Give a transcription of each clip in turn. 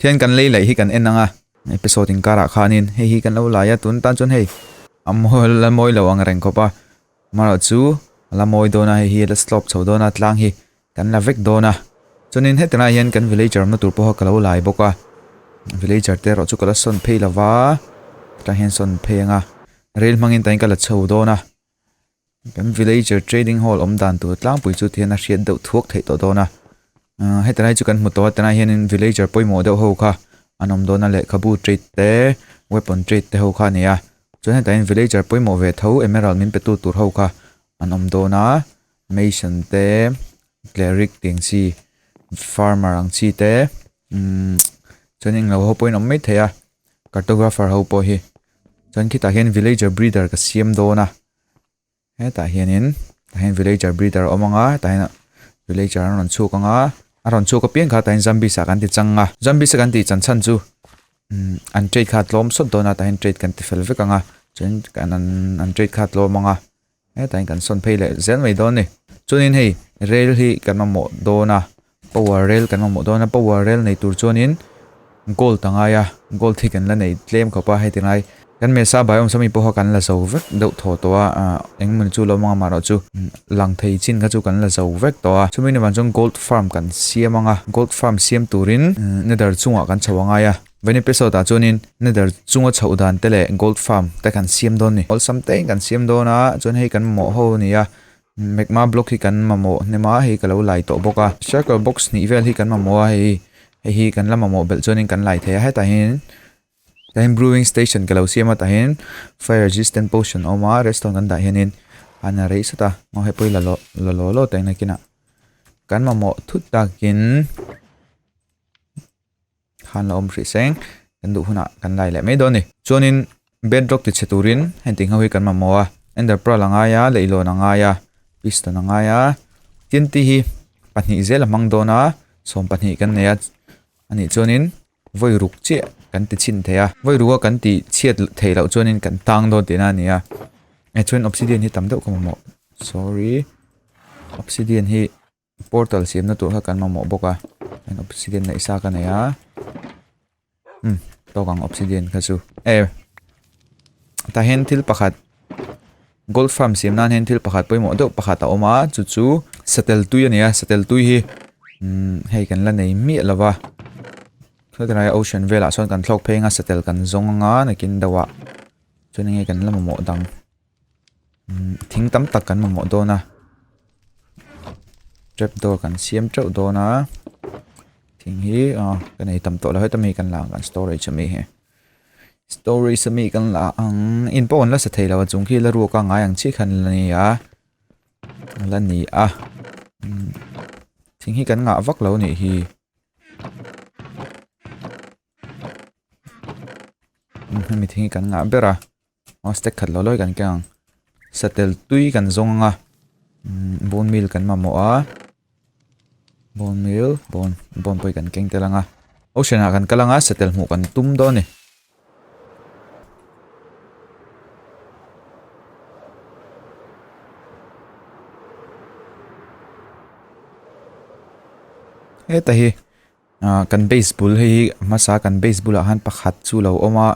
Thian kan lei laih hi kan en anga episode inkarah khanin hei hi kan lo laia tun tan chuan hei a la mawi lo ang reng khawpa amarawh chu a la mawi dawn a hei hi a la stop chho dawn a tlang hi kan la vek dawn a chuanin heti lai hian kan villager awmna tur pawha ka lo lai bawk a villager te erawh chu ka la sawn phei lova tah hian sawn phei anga rel hmangin tain ka la chho dawn a Kan villager trading hall awm dan tur tlangpui chu thiana hriat deuh thuak theih tawh dawn a umm heti lai chu kan hmu tawh a tunah hianin villager pawimawh deuh ho kha an awm dawn a lehkhabu trade te weapon trade te ho kha a ni a chuan heta in villager pawimawh ve tho emerald min pe tu tur ho kha an awm dawn a mason te cleric tih ang chi farmer ang chi te umm chuan englo ho pawhin awm mai theih a cartographer ho pawh hi chuan khitah hian villager breeder ka siam dawn a. hetah hianin tah hian villager breeder a awm ang a tah hian villager an rawn chhuk anga a rawn chhuk a piang kha tah hian zambis ah kan ti chang a zambis a kan tih chan chhan chu umm an trade kha a tlawm sawt dawn a tah hian trade kan ti fel vek ang a chuan kan an an trade kha a tlawm ang a hetah hian kan sawn phei leh zel mai dawn a ni chuanin hei rel hi kan mamawh dawn a. Power rel kan mamawh dawn a power rel nei tur chuanin gold ta ngai a gold hi kan la nei tlem khawp a heti lai kan mesa bai awm sami pawh kha kan la zo vek deuh thaw tawh a a eng mawni chu lo mang a mah loh chu lang thei chin kha chu kan la zo vek tawh a chumi ni vang chuan gold farm kan siam anga gold farm siam turin nether chungah kan chho a ngai a van episode ah chuanin nether chunga chhoh dan te leh gold farm te kan siam dawn a ni awlsam teiin kan siam dawn a chuan hei kan mamawh ho a ni a. Magma block hi kan mamawh hnem a, hei ka lo lai tawh bawk a. Circle box hnih vel hi kan mamawh a, hei hei hi kan la mamawh belh chuan in kan lai thei a. Hetah hian eng brewing station ka lo siam a, tah hian fire resistant potion a awm a, redstone kan dah hian in an rei sat a. Aw hei pawh hi la lo la lo lo teng nakin a kan mamawh thut takin. Khan la awm hrih seng, kan duh hunah kan lai leh mai dawn a ni. Chuanin bedrock tichhe turin hentiho hi kan mamawh a, ender pearl a ngai a, leihlawn a ngai a, piston a ngai a, tnt hi pahnih zel a hmang dawn a, sawm pahnih kan nei a, anih chuanin vawi ruk chiah kan ti chhin thei a, vawi ruka kan ti chhiat theih loh chuanin kan tang dawn tihna a ni a, eh chuan obsidian hi tam deuh ka mamawh, sorry, obsidian hi Portal siamna tur kha kan mamawh bawk a, chuan obsidian neih sa ka nei a, umm tawk ang obsidian kha chu e tah hian thil pakhat gold farm siam nan hian thil pakhat pawimawh deuh pakhat a awm a chu chu satel tui a ni a satel tui hi umm hei kan la nei miah lo va helai ocean velah sawn kan thlawk pheng a satel kan zawng anga nakin deuhah chuan enge kan la mamawh dang. thing tam tak kan mamawh dawn a trap door kan siam teuh dawn a thing hi aw ka nei tam tawh lo heta mi kan la ang kan storage a mi hi storage a mi kan la ang in pawh an la sa thei lo a chung khi la ruak a ngai ang chiah khan la ni a la ni a thing hi kan ngah vak lo nih hi hemi thing hi kan ngah ber a. aw step khat lo lawih kan keng ang satel tui kan zawng anga umm bone meal kan mamawh a bone meal bone bone pawh hi kan keng tel anga ocean ah kan kal anga satel hmuh kan tum dawn a ni. Ahh kan base bul hei hi a hmasa kan base bulah han pakhat chu a lo awm a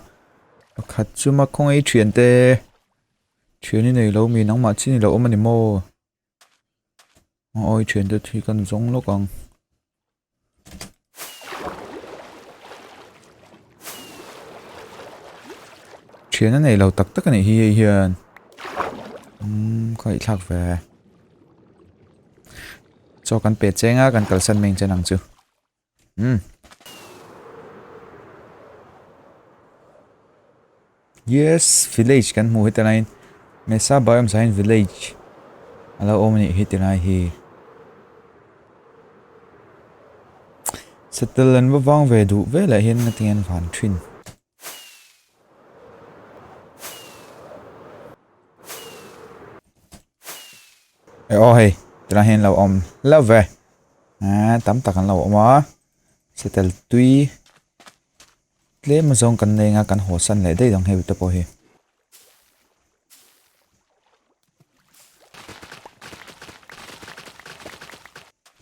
pakhat chu ma khawngaih thian te thian inei lo miin ang mah chin i lo awm a ni maw a awi thian te hi kan zawng lawk ang. Thian a nei lo tak tak a nih hi hei hian umm khawihthlak ve. Chaw kan peh cheng a kan kalsan mai chen ang chu. Umm. Yes, village kan hmu heta lain. Mesa biome sain village. Alo om ni heta lai hi. Settle an vang ve du ve la hin na tian van thin. e o hei tuna hian lo awm hlo ve eee tam tak an lo awm a satel tui tlem azawng kan nei anga kan haw san leh daih ang hemi te pawh hi.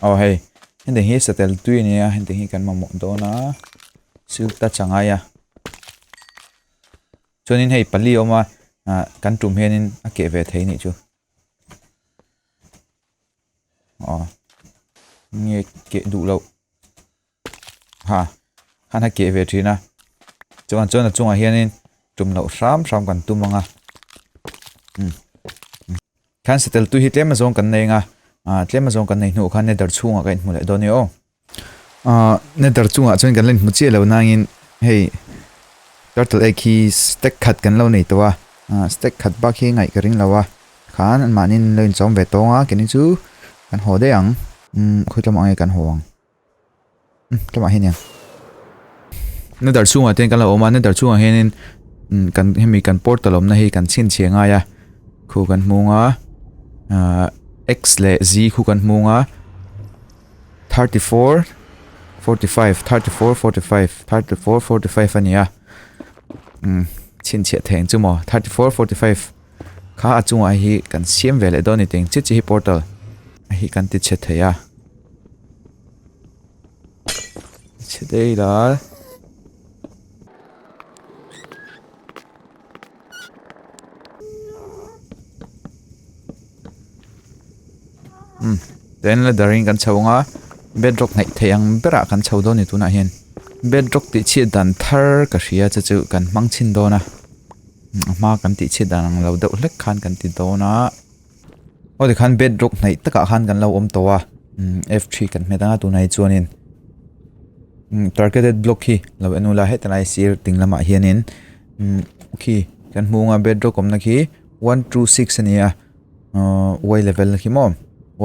Aw hei, heti hi satel tui nia, heti hi kan mamawh dawn a, silta changai a. Chuanin hei pali a awm a, ah, kan tum hianin a keh ve thei nih chu. Aw, nge keh duh loh. Ha, han ha keh ve thin a, chuan chuan a chungah hianin tum loh hram hram kan tum anga umm umm khan settle tu hi tlem azawng kan nei anga ah tlem azawng kan nei hnu khan nether chhungah ka inhmu leh dawn ni aw ah nether chungah chuan kan la inhmu chiah lo nangin hei turtle egg hi stack khat kan lo nei tawh a ah stack khat bak hi ngaih ka ring lo a khan mahni in lo inchawm ve tawnga keni chu kan haw daih ang umm khawitlama ange kan haw ang. tlawmah hian eng na dar chhungah ten kan lo awm a na dar chhungah hianin kan hemi kan portal awmna hi kan chhinchhia ngai a khu kan hmung a x leh z khu kan hmung a thirty four forty five thirty four forty five thirty four forty five a nia chhinchhia theng chu maw thirty four forty five kha a chungah hi kan siam ve leh dawn ni teng che che hi portal hi kan ti che thei a Chhedei lai. Hmm. Then la daring kan chho nga. Bedrock ngai thei ang bera kan chho do ni tuna hian. Bedrock ti chhiat dan thar ka hria chu chu kan hmang chin dona. Hma kan ti chhiat dan ang lo deuh hlek khan kan ti dona. aw tikhan bedrock hnaih takah khan kan lo awm tawh a umm f three kan hmet a tunah hi chuanin umm targeted block hi lo en nula heta lai sir ding lamah hianin umm khi kan hmuh ang a bedrock awmna khi one two six a ni a uhh y level a khi maw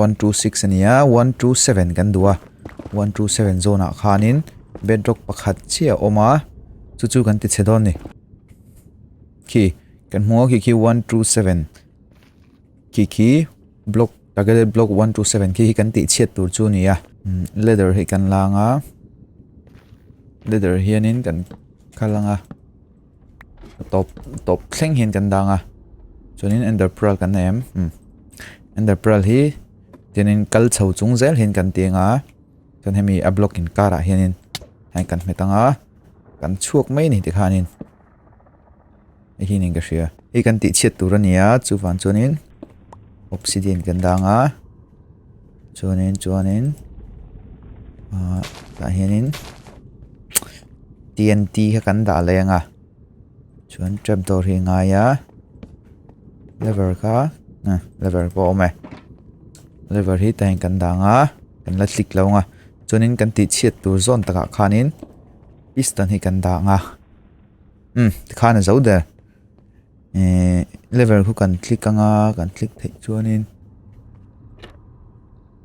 one two six a ni a one two seven kan duh a one two seven zawnah khanin bedrock pakhat chiah a awm a chu chu kan ti chhe dawn a ni khi kan hmuh ang khi khi one two seven . khi khi block targeted block one two seven khi khi kan tih chhiat tur chu a ni a umm ladder hi kan la ang a ladder hianin kan kal ang a tawp tawp thleng hian kan dang a chuanin ender pearl kan nei em umm ender pearl hi tianin kal chho chung zel hian kan tih ang a chuan hemi a block in karah hianin kan hmet ang a kan chhuak mai a ni tikhanin. Nihin in ka hria. Hei kan tih chhiat tur a ni a, chu van chuanin obsidian kan dang a. Chuanin chuanin ah tah hianin TNT kha kan dah leng a. Chuan trapdoor hi ngai a. Lever kha ah lever pawh a awm e. Lever hi tah hian kan dang a, kan la hlik lo ang a. Chuanin kan tih chhiat tur zawn takah khanin piston hi kan dang a. umm tikhan a zo der ehh level khu kan click ang a kan click theih chuanin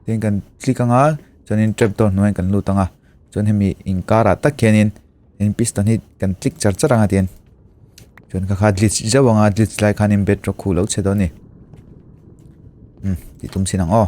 tin kan click ang a chuanin trap door hnuaiah kan lut ang a chuan hemi inkarah tak hianin hemi piston hi kan click char char ang a tian chuan ka kha glitch zauh ang a glitch lai khanin bedrock khu lo chhe dawn a ni umm tih tum chin ang aw.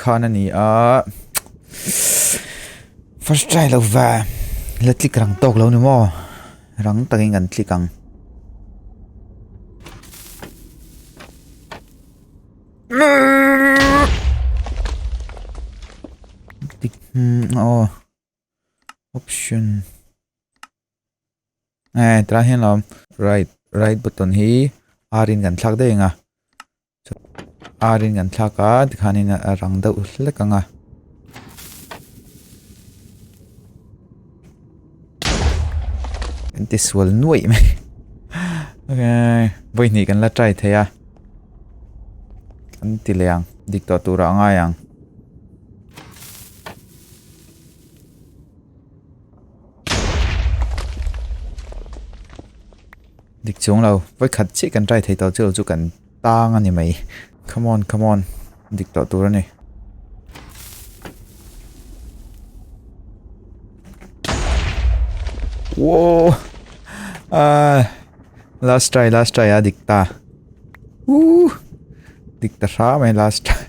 khan a ni a first try lo va la click rang tawk lo ni maw rang takin kan click ang click hmm oh option eh tra hian lo right right button hi arin kan thlak daih anga Arin kan thlak a tikhan in a rang deuh hlek ang a. Kan ti sual nuaih mai. Okay. Voi hnih kan la try thei a. Kan ti le ang. Dik tawh tura ngai ang. Dik chung lo. Voi khat chi kan try thei tawh chu chu kan Tang a ni mai. Come on, come on. Dik tawh tur a ni. Whoa! Uh, last try, last try a dik ta. Woo! Dik ta hra mai last try.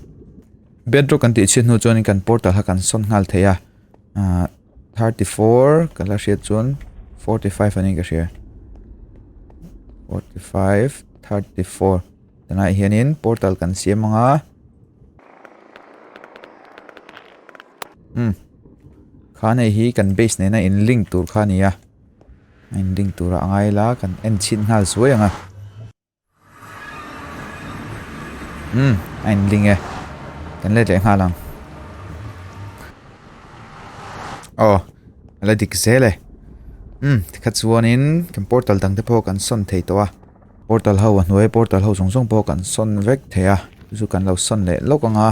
Bedrock kan tih chin hnu chuan kan portal ha kan son nghal thei a. Uh, thirty four ka la hriat chuan forty five anih ka hria forty five thirty four tunah hianin portal kan siam ang a hmm kha nei hi kan base nena in link tur kha nia in link tura angai la kan en chhin nghal suai ang a. Umm a in ding e kan let leh nghal ang aw a la dik zel e umm tikha chuan in kan portal dang te pawh kan sawn thei tawh a portal ho a hnuai portal ho zawng zawng pawh kan sawn vek thei a chu chu kan lo sawn leh lawk ang a.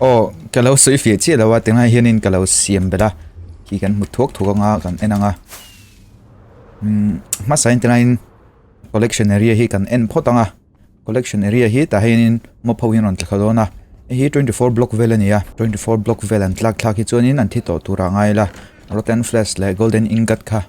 Aw ka lo sawi fih chiah lo a tingai hianin ka lo siam belh a khi kan hmu thuak thuak anga kan en anga umm hmasain tinahin collection area hi kan en phawt anga collection area hi tah hianin mob ho hi an rawn tla kha dawn a hei hi twenty four block vel a ni a twenty four block vel an tlak thlak hi chuanin an thi tawh tur ah a ngai ila rotten flats leh golden ingot kha--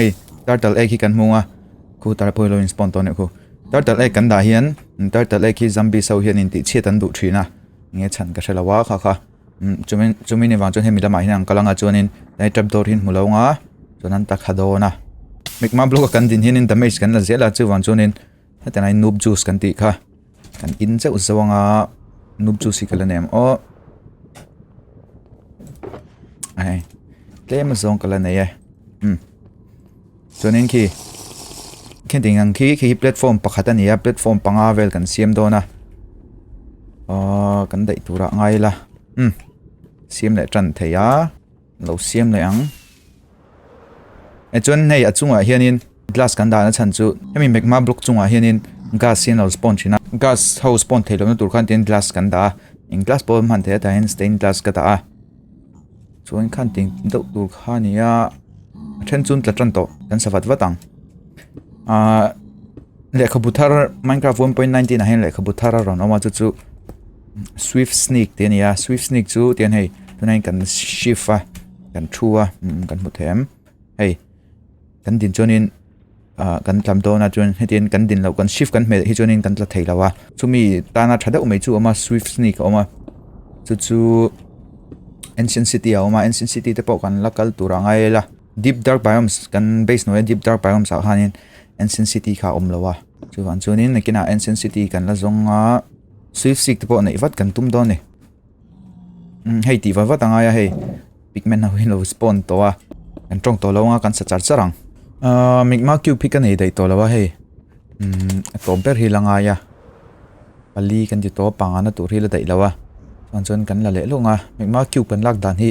ei turtle egg hi kan hmung a khu tar pawh hi lo in spawn tawh neuh khu turtle egg kan dah hian turtle egg hi zombie sau hian in tihchhiat an duh thin a nge chhan ka hre lo va kha kha chumi chumi ni vang chuan hemi lamah hian an kal anga chuanin he trap door hi hmu lo ang a chuan an ta kha dawn a mik ma block a kan din hianin damage kan la zel a chuvang chuanin hetiang lai noob juice kan tih kha. Kan in zeuh zeuh ang a Noob Juice hi ka la nei ang aw Ai Tlem azawng ka la nei e Hmm Chuanin khi Khi ding ang khi khi platform pakhat a ni a platform panga vel kan siam dawn a Aww kan daih tura ngai la Hmm Siam leh tan thei a Lo siam leh ang. Echuan hei a chungah hianin glass kan dan a chhan chu hemi magma block chungah hianin gas hi an lo spawn thin a. Gas ho spawn thei lohna tur khan tihin glass kan dah a. Eng glass pawh hman theih a tah hian stained glass ka dah a. Chuan khan tih deuh tur kha a ni a. A then chun tla tan tawh kan sa vat vat ang. Ahh lehkhabu thar Minecraft one point nineteen ah hian lehkhabu thar a rawn awm a chu chu Swift Sneak tih a ni a Swift Sneak chu tiang hei tunah hian kan shift a kan thu a kan hmu thei em hei kan din chuanin ahh kan tlam dawn a chuan hetian kan din loh kan shift kan hmelh hi chuanin kan tla thei lo a chumi tana tha deuh mai chu a awm a Swift Sneak a awm a chu chu Ancient City a awm a Ancient City te pawh kan la kal tur a ngai la. Deep Dark Biomes kan base hnuaia Deep Dark Biomes ah khanin Ancient City kha awm lo a chuan chuanin nakina Ancient City kan la zawng a Swift Seek te pawh neih vat kan tum dawn ni um hei tih vat vat a ngai a hei pigment ho hin lo spawn tawh a kan tawng tawh lo a kan sa char char ang uh, Migma Cube hi ka nei daih tawh lo a hei um a tawh ber hi la ngai a pali kan ti tawh pangana tur hi la daih lo a chuan chuan kan la leh lawng a Migma Cube kan lak dan hi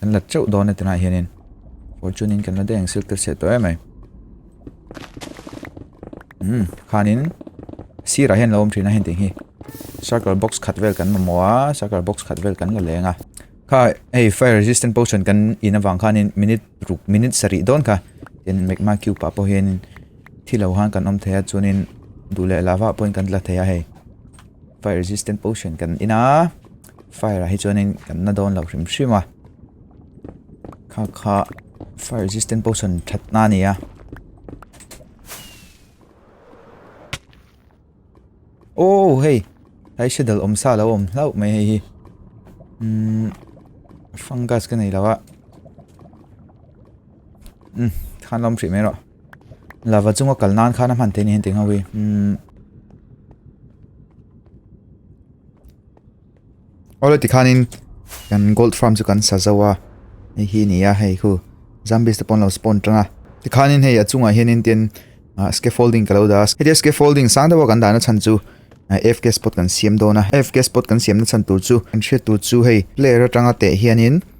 Kan la teuh dawn a ti lai hianin fortune in kan la deng silk tir chhe tawh em mai. Hmm, khanin sirah hian lo awm thin a heng ting hi. Circle box khat vel kan mamawh a, circle box khat vel kan la leng a. Kha hei fire resistant potion kan in avang khanin minute ruk minute sarih dawn kha in magma cube ah pawh hianin thilo han kan awm thei a chuanin duh leh lava pawhin kan la thei a hei. Fire resistant potion kan in a. fire ah hi chuan in kan la dawn lo hrim hrim a kha kha fire resistant pawh sawn that na a ni a oh hei lai shadow awm sa lo awm hlauh mai hei hi um fungus ka nei lo a um thanlawm hrih mai rawh Lava chunga kal nan khan a hman theih nen tih ngho i. Hmm. Olo ti khan in kan gold farm chu kan sa zo a. Hei hi ni a hei khu. Zombies te pon lo spawn tanga. Ti khan in hei a chunga hian in tin uh, scaffolding ka lo da. Hei scaffolding sang dawa kan dana chan chu uh, FK spot kan siam dona. FK spot kan siam na chan tur chu kan hriat tur chu hei player atanga teh hian in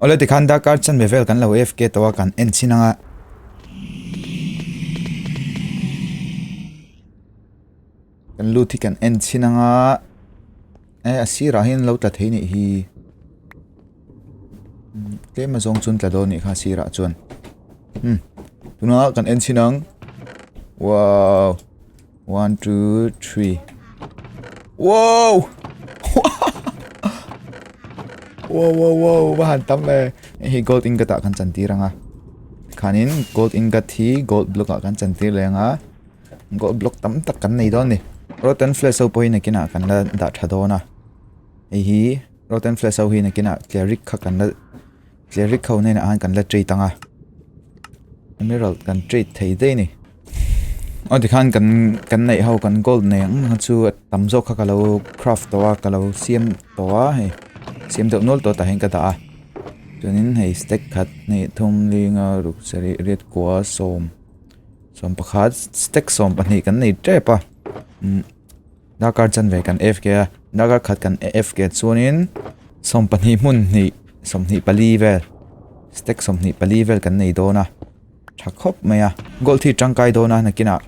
Awle tikhan darkar chanve vel kan lo afk tawh a kan en chin anga. Kan lut hi kan en chin anga. Eh a sirah hian lo tla thei nih hi. Tlema zawng chun tla dawn nih kha sirah chuan. Hmm. Tuna kan en chin ang. Wow. One, two, three. Wow! wow, wow, wow, bahan tam le. Hi gold ingot a kan chan tir anga. Khanin gold ingot hi gold block a kan chan tir le anga. Gold block tam tak kan nei don ni. Rotten flash so poi na kina kan la da tha dona. Hi rotten flash so hi na kina clear rik kha kan la Cleric ho nen ahan kan la treat ang a. Emerald kan treat thei daih ni. Aw tikhan kan kan nei ho kan gold nei ang ha chu tam zawk kha ka lo craft tawh a ka lo siam tawh a hei. Siam deuh nual tawh tahin ka dah a. Chuanin hei stack khat hne thum linga ruk sarih red kua sawm sawm pakhat stack sawm pahnih kan nei tep a. Darkar chan ve kan fk a, darkar khat kan fk chuanin sawm pahnih hmun hnih sawmhnih pali vel stack sawmhnih pali vel kan nei dawn a tha khawp mai a gold thit tangkai dawn a nakinah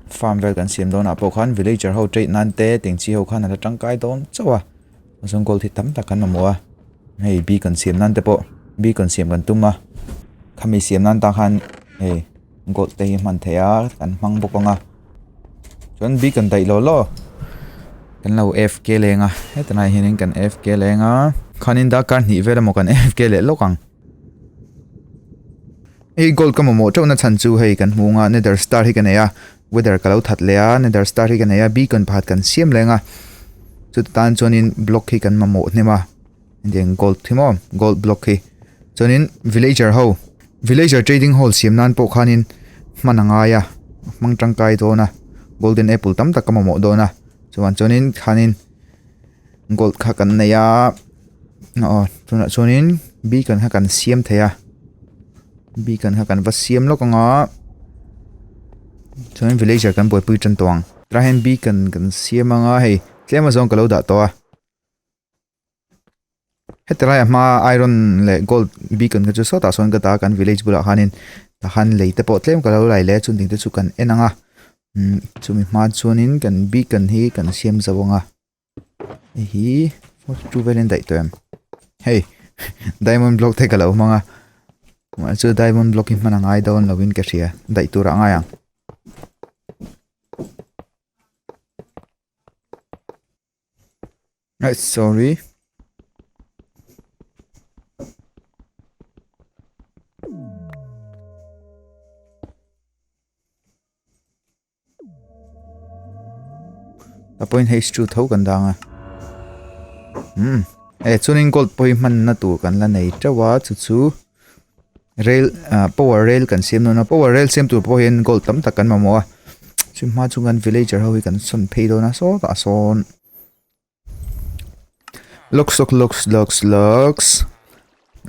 farm vel kan siam dawnah pawh khan villager ho trade nan te tengchi ho khan an la tangkai dawn chauh a chuan gold thit tam tak an awm a hei bik an siam nan te pawh bik an siam kan tum a khami siam nan tan khan hei. gold te hi a hman theih a kan hmang bawk ang a chuan bik an daih law law kan lo F K leng a hetilai ah hianin kan F K leng a khanin darkar hnih vel emaw kan F K leh lawk ang hei gold ka mamawh teuhna chhan chu hei kan hmuh anga nether star hi ka nei a weather ka lo that leh a nether star hi ka nei a beacon pakhat kan siam leng a chuti tan chuanin block hi kan mamawh hnem a. Engtiang gold thim aw gold block hi chuanin villager ho villager trading hall siam nan pawh khanin hman a ngai a a hmang tangkai dawn a golden apple tam tak ka mamawh dawn a chuvang chuanin khanin gold kha kan nei a aw tunah chuanin beacon kha kan siam thei a beacon kha kan va siam lawk ang a chuan villager kan buaipui tan tawh ang tah hian beacon kan siam anga hei tlem azawng ka lo dah tawh a. Heti lai a hma iron leh gold beacon ka chu sawtah sawn ka dah a kan village bulah khanin han lei te pawh tlem ka lo lai leh a chuan dingte chu kan en ang a umm chumi hman chuanin kan beacon hi kan siam zo ang a hei hi forty two velin daih tawh em hei diamond block te ka lo hmang a mah chu diamond block hi hman a ngai dawn lovin ka hria daih turah a ngai ang. Ai sorry a point h chu tho kan dang a um e chuan in gold point hman na tur kan la nei teuh a chu chu rail ah power rail kan siam dawn a power rail siam tur pawh hian gold tam tak kan mamawh a chhûng hma chu kan villager ho hi kan sawn phei dawn a sâwt ah sâwn lawk sawk lawks lawks lawks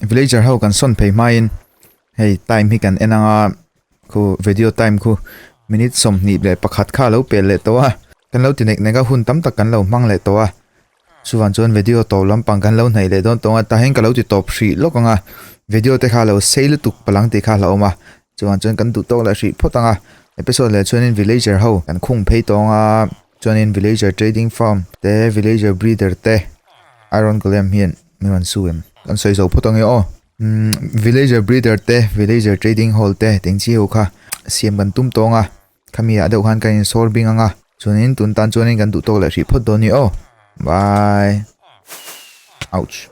villager ho kan sawn phei hmain hei time hi kan en ang a khu vedio time khu minute sawmhnih leh pakhat kha a lo pel leh tawh a kan lo ti nek nek a hun tam tak kan lo hmang leh tawh a. Chuvan chuan video to lampang kan lo hnaih leh dawn tawng a, tah hian ka lo ti tawp hrih lawk ang a, video te kha lo sei lutuk palang tih kha a hla awm a, chuvan chuan kan duhtawk leh hrih phawt ang a, episode leh chuanin villager ho kan khung phei tawng a, chuanin villager trading farm te, villager breeder te, iron golem hian min rawn su em? Kan sawi zo phawt ang e aw, umm villager breeder te, villager trading hall te te inchi ho kha siam kan tum tawng a, Khami ah deuh khan ka in sâwr bing ang a, chuan in tun tan chuan in kan duh tawk leh hrih phawt dawn ni aw. Bye. Ouch.